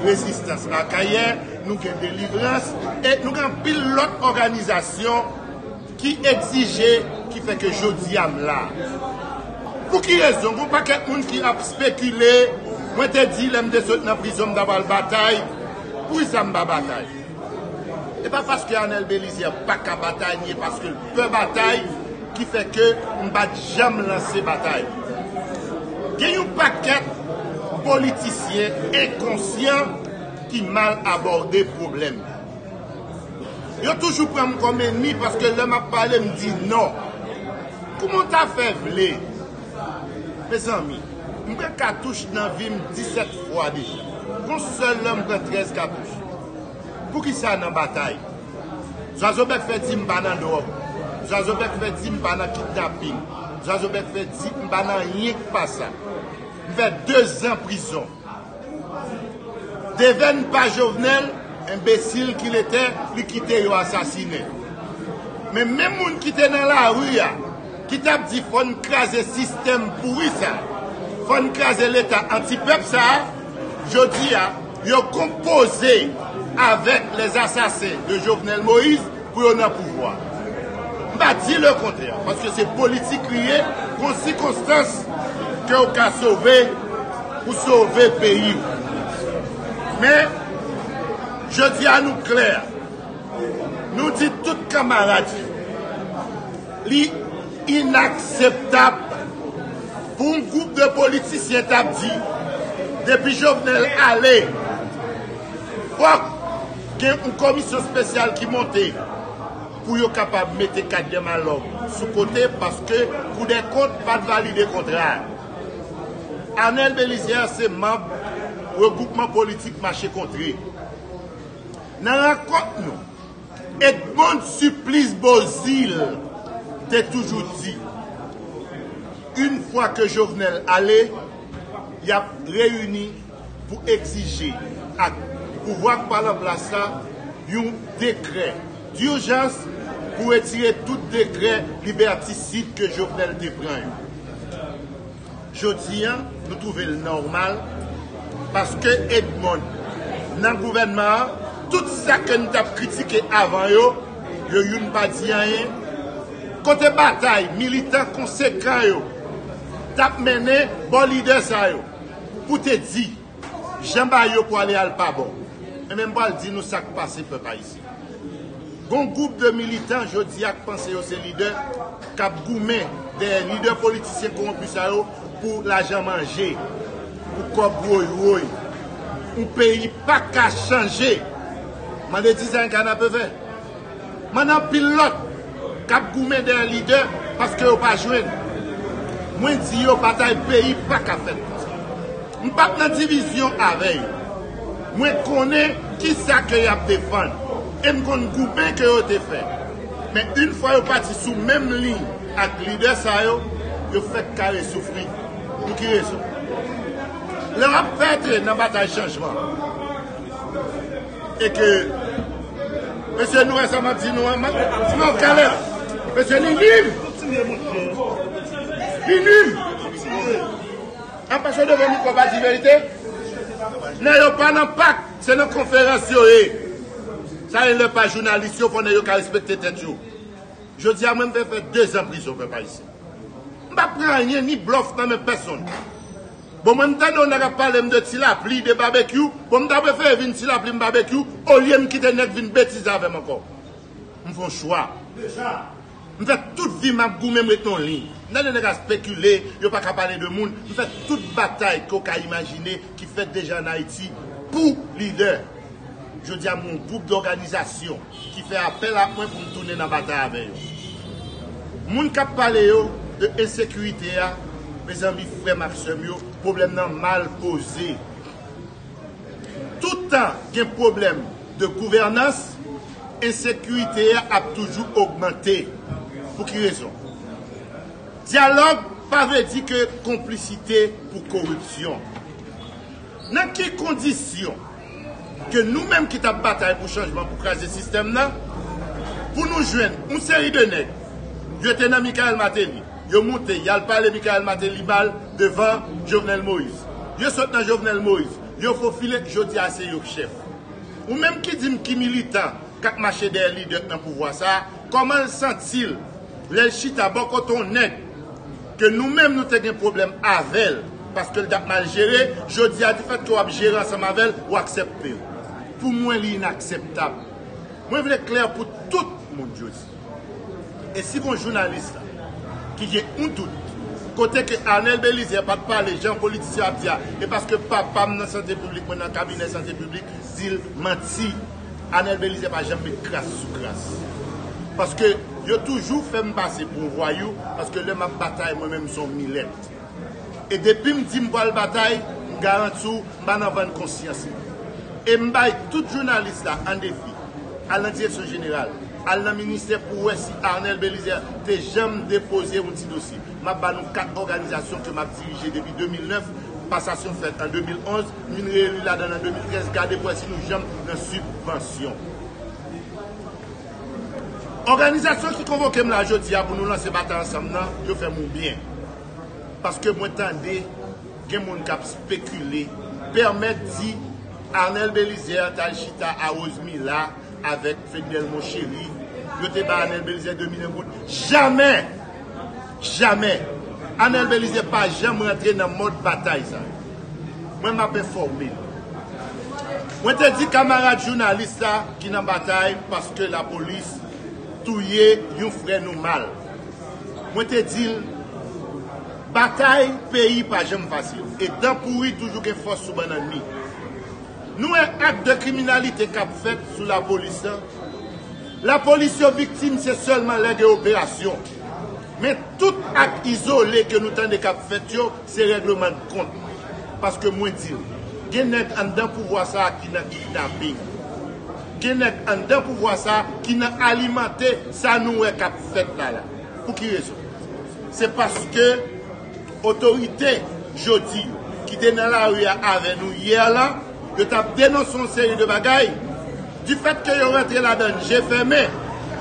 Rezistans Akayè, nou gen Delivrans e nou gen anpil lòt òganizasyon ki egzije ki fè ke jodi a m la. Pou ki rezon? Gon pakèt moun ki ap spekile, mwen te di lè m te sot nan prizon m ta pral batay, poukisa m pa batay? E pa paske Anel Belizaire paka batay ni e paske l pè batay ki fè ke m pa t janm lanse batay. Gen yon pakèt politisyen enkonsyan ki mal abòde pwoblèm nan. Yo toujou pran m kòm enmi paske lè m ap pale m di non. Kouman w ta fè vle? Mezanmi, m pran katouch nan vi m 17 fwa deja. Gon sèl lè m pran 13 katouch. Poukisa nan batay? Zwazobec fè di m pa nan dròg. Zwazobec fè di m pa nan kidnaping. Zwazobec fè di m pa nan anyen k pa sa. M fè 2 zan prizon. Devenn pa Jovenel, enbesil ki l etè, li kite yo asasinen. Men menm moun ki te nan lari a, ki t ap di fò n kraze sistèm pouri sa, fò n kraze leta anti-pèp sa, jodi a, Yo konpoze avèk les assassins de Jovenel Moïse pou yo nan pouvwa. M pa di le kontrè, paske se politik li ye, gon sikonstans ke w ka sove pou sove peyi w. Men, jodi a nou klè, nou di tout kanmarad yo. Li inakseptab pou yon gwoup de politisyen t ap di depi Jovenel ale fòk gen yon komisyon spesyal ki monte pou yo kapab mete Cadner Malhomme sou kote paske koudèkont pa t valide kontra a. Arnel Belizaire se manb regwoupman politik Mache Kontre. Nan rankont nou. Edmond Supplice Beauzile te toujou di, Une fwa ke Jovenel ale, yap reyini pou egzije ak pouvwa k pale an plas la yon dekrè durjans pou retire tout dekrè liberticide ke Jovenel te pran yo. Jodi an, nou twouve l nòmal paske Edmond nan gouvènman an, tout sa ke n t ap kritike avan yo, yo youn pa di anyen. Kote batay militan konsekan yo t ap mennen bò lidè sa yo pou te di? Jan bagay yo pwale al pa bon. Enben m pwal di nou sa k pase pèp ayisyen. Gon gwoup de militan jodi a k panse yo se lidè k ap goumen dèyè lidè politisyen kowonpi sa yo pou lajan manje, pou kòb woy woy. Yon peyi pa ka chanje. Mande ti sa yon kanapevè. M'en anpil lòt kap goumen dèyè lidè paske yo pa jwenn. Mwen di yo batay peyi paka fèt konsa. M'pap nan divizyon avè yo. Mwen konnen kisa ke yap defann e m'konn goumen ke yo te fè. Men yn fwa yo pati sou menm liy ak lidè sa yo, yo fèk kare soufri. Pou ki rezon? Lè wap pèdre nan batay chanjman. E ke Mesye nou wè sa map di nou an map Ti mòv kalè Mesye li nim Li nim An pase devan mikro pa di verite Nè yo pa nan pak Se nan konferans yo ye Sa e lè pa jounalis yo konnen yo ka respekte tèt yo Jodi a mwen mwen fè 2 zan prizon pèp ayisyen M pa pran anyen ni blòf nan men pèsonn Bon mwen m tande yon nèg ap pale m de ti lapli, de babekyou, bon m ta prefere vin ti lapli m babekyou olye m kite nèg vin betize avè m ankò. M fè yon chwa. M fè tout vi m ap goumen m ret nan yon liy. M tande nèg ap spekile, yo pa ka pale de moun, m fè tout batay ke w ka imajine ki fèt deja an Ayiti pou lidè. Jodi a m gen yon gwoup dòganizasyon. ki fè apèl ak mwen pou m tounen nan batay avè yo. Moun kap pale yo de ensekirite a mezanmi frè m ak sè m yo pwoblèm nan mal poze. Tout tan gen pwoblèm de gouvènans ensekirite a ap toujou ogmante. Pou ki rezon? Dyalòg pa vle di ke konplisite pou koripsyon. Nan ki kondisyon? ke nou menm ki tap batay pou chanjman pou kraze sistèm nan pou nou jwenn yon seri de nèg yo te nan Michael Martelly yo moute yal pale Michael Martelly mal devan Jovenel Moïse yo sot nan Jovenel Moïse yo fofile jodi a se yo k chèf ou menm ki dim ki militan kap mache dèyè lidè k nan pouvwa sa kòman l santi l lèl chita bò kote yon nèg Ke nou menm nou te gen pwoblèm avèl paske li tap mal jere, jodi a difèt ke wap jere ansanm avèl ou aksèptel. Pou mwen li inaksèptab. Mwen vle klè pou tout moun jodi. E si gon jounalis la ki gen yon dout kote ke Arnel Belizaire pat pale jan politisyen ap di a e paske papam nan sante piblik mwen nan kabinè sante piblik dil manti. Anel Belizaire pa janm met kras sou kras paske yo toujou fèm pase pou yon vwayou paske lè map batay mwen menm son milèt e depim di m pwal batay m garanti w m pa nan vann konsyans mwen e m bay tout jounalis la an defi al nan direksyon jeneral al nan ministè pou wè si Arnel Belizaire te janm depoze yon ti dosye map ba nou 4 òganizasyon ke map dirije depi 2009 pasasyon fèt an 2011. M vin reelu ladan l an 2013, gade pou wè si nou janm nan sibvansyon. Òganizasyon ki konvoke m la jodi a pou nou lanse batay ansanm nan, yo fè m ou byen. Paske mwen tande gen moun k ap spekile, pèmèt di Arnel Belizaire t al chita a Rosemila, avèk Fednelmo Chery, yo te bay Anel Belizaire 2 milyon goud. Jamè! Jamè! Anel Belizaire pa janm rantre nan mòd batay sa yo. Mwen m ap enfòme nou. Mwen te di kamarad jounalis la ki nan batay paske lapolis touye yon frè nou mal. Mwen te di l, batay peyi pa janm fasil. E dan pouri toujou gen fòs sou bannann li. Nou wè ak de kriminalite kap fèt sou la polis la. La polis yo viktim se sèlman lè gen operasyon. Men tout ak izole ke nou tande kap fèt yo se règleman de kont. Paske mwen diw, gen nèg anndan pouvwa sa a ki nan kidnaping. Gen nèg anndan pouvwa sa a ki nan alimante sa nou wè kap fèt la la. Pou ki rezon? Se paske. Otorite jodi yo ki te nan lari a avè nou yè la, yo t ap denonse yon seri de bagay. Difètke yo rantre ladan l je fèmen,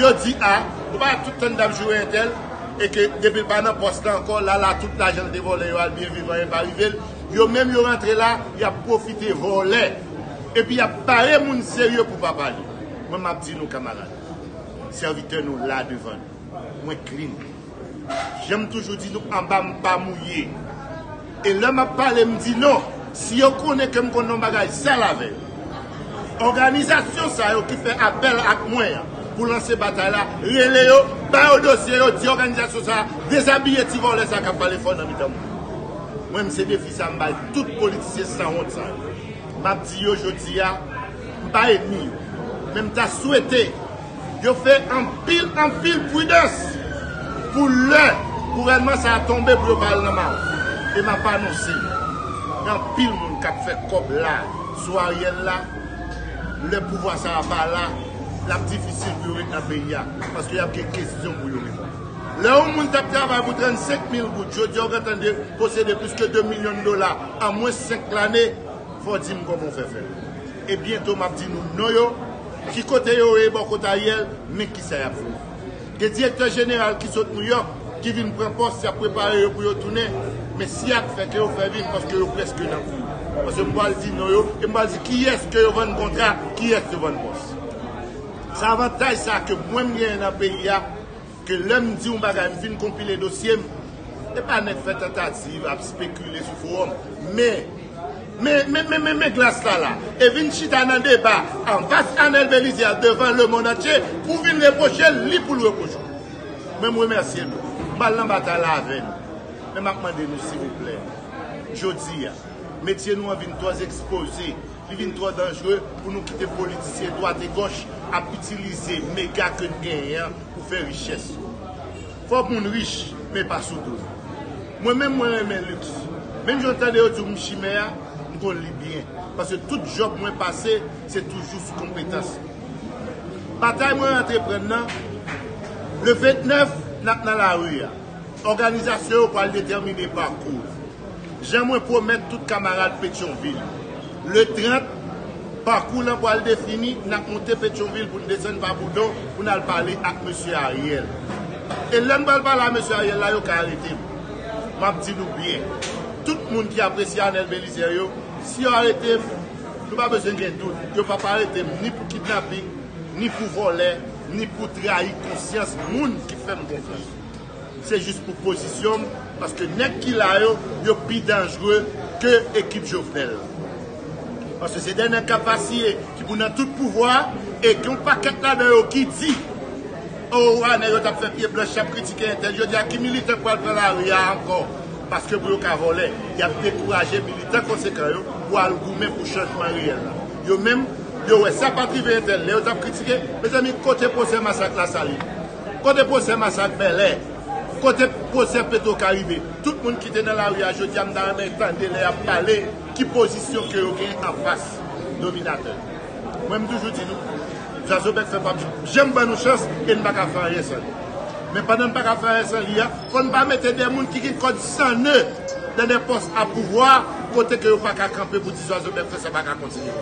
yo di a, nou pa wè tout tan n t ap joure entèl e ke depi l pa nan pòs la ankò, lala tout lajan l te vòlè yo al byen viv anyen pa rive l. Yo menm yo rantre la, y ap pwofite vòlè epi y ap bare moun serye pou pa pale. Mwen m ap di nou kamarad, sèvitè nou la devan nou. Mwen clean. Janm toujou di nou anba m pa mouye. E lè map pale m di non. Si yo konnen ke m konn yon bagay sal avè yo. Òganizasyon sa yo ki fè apèl ak mwen an pou lanse batay la, rele yo, ba yo dosye yo, di òganizasyon sa a dezabiye ti vòlè sa kap pale fò nan mitan moun. Mwen m se defi sa m bay tout politisyen san wont sa yo. Map di yo jodi a, m pa enmi yo. Men m ta swete Yo fè anpil anpil pridans pou lè gouvènman sa a tonbe pou yo pa al nan maron. E m ap anonse nou, gen anpil moun k ap fè kòb la a sou Ariel la, lè pouvwa sa a pa la, l ap difisil pou yo ret nan peyi a, paske y ap gen kesyon pou yo reponn. Lè yon moun t ap travay pou 35 mil goud, jodi a ou gentan posede plis ke 2 milyon dola an mwens 5 lane, fò w di m kòman ou fè fè l. E byento m ap di nou non yo. Ki kote yo ye bò kot Ariel men kisa yap fè. Gen direktè jeneral ki sot Nouyòk ki vin pran pòs yap prepare yo pou yo tounen men si yap fè ke yo fè vit paske yo prèske nan kou paske m pwal di non yo e m pwal di kiyès ke yo vann kontra pou kiyès yo vann pòs. Se avantaj sa ke mwen m genyen nan peyi a. Ke lè m di yon bagay m fin konpile dosye m. E pa nèk fè tantativ ap spekile sou fowòm. Men, men, men, men, men, men glas la la. E vin chita nan deba anfas Anèl Belize a devan lemonn antye pou vin repwoche l li pou l repwoche w. Men m remèsye nou. M pa al nan batay la avè nou. Men m ap mande nou silvouplè, jodi a, metye nou an vin twò ekspoze, li vin twò danjre pou nou kite politisyen dwategòch ap itilize mega ke n genyen an, pou fè richès yo. Fòk moun rich men pa sou do yo. Mwen menm mwen renmen luxe. Menm jan tande yo di m chimè a, m konn li byen. Paske tout job mwen pase se toujou sou konpetans m. Batay mwen antreprann nan, le 29 nap nan lari a. Òganizasyon yo pral detèmine pakou. Jan mwen pwomèt tout kamarad Petyonvil, le 30, pakou lan pwal defini, nap moute Petyonvil poun desann pa Boudon poun al pale ak Mesye Ariel. E lèm pral pale a Mesye Ariel la yo ka aretem. Map di nou byen, tout moun ki apresye Anel Belizaire yo, si yo aretem, nou pa bezwen gen dout, yo pap aretem ni pou kidnaping, ni pou vòlè, ni pou trayi konsyans moun ki fèm konfyans. Se jis pou pozisyon m paske nèg ki la yo, yo pi danjre ke ekip Jovenel. Paske se 2 nèg kap vasiye ki pou nan tout pouvwa a e gen yon pakèt ladan yo ki di oo wa nèg yo tap fè pye blanch yap kritike entèl jodi a ki militè k pral pran lari a ankò paske pou yo ka vòlè yap dekouraje militan konsekan yo pou al goumen pou chanjman reyèl la. Yo menm yo wè sa pat rive entèl lè yo tap kritike. Mezanmi kote pwosè masak Lasalin? Kote pwosè masak Bèlè? Kote pwosè Petro Karibe? Tout moun ki te nan lari a jodi a m ta renmen tande lè y ap pale ki pozisyon ke yo gen anfas dominatè. Mwen m toujou di nou, zazobèk sa pap janm ban nou chans e n pa ka fè anyen san li. Men pandan n pa ka fè anyen san li a, fò n pa mete de moun ki gen kòd san ne nan de pòs a pouvwa kote ke yo pa ka kanpe pou di zazobèk fè sa pa ka kontinye.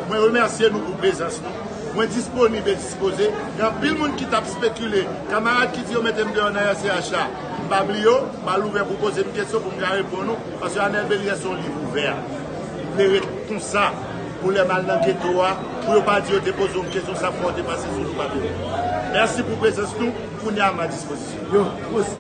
Mwen remèsye nou pou prezans nou. Mwen disponib e dispoze. Gen anpil moun ki t ap spekile. Kamarad ki di yo mete m deyò nan RCH a, m pa bliye w. M al ouvè pou w poze m kesyon pou m ka reponn ou. Paske Anel Belier se yon liv ouvè. M vle ret konsa pou lè m al nan geto a, pou yo pa di yo te poze w kesyon sa fwa w te pase sou nou pa bliye. Mèsi pou prezans nou. Kounye a m a dispozisyon.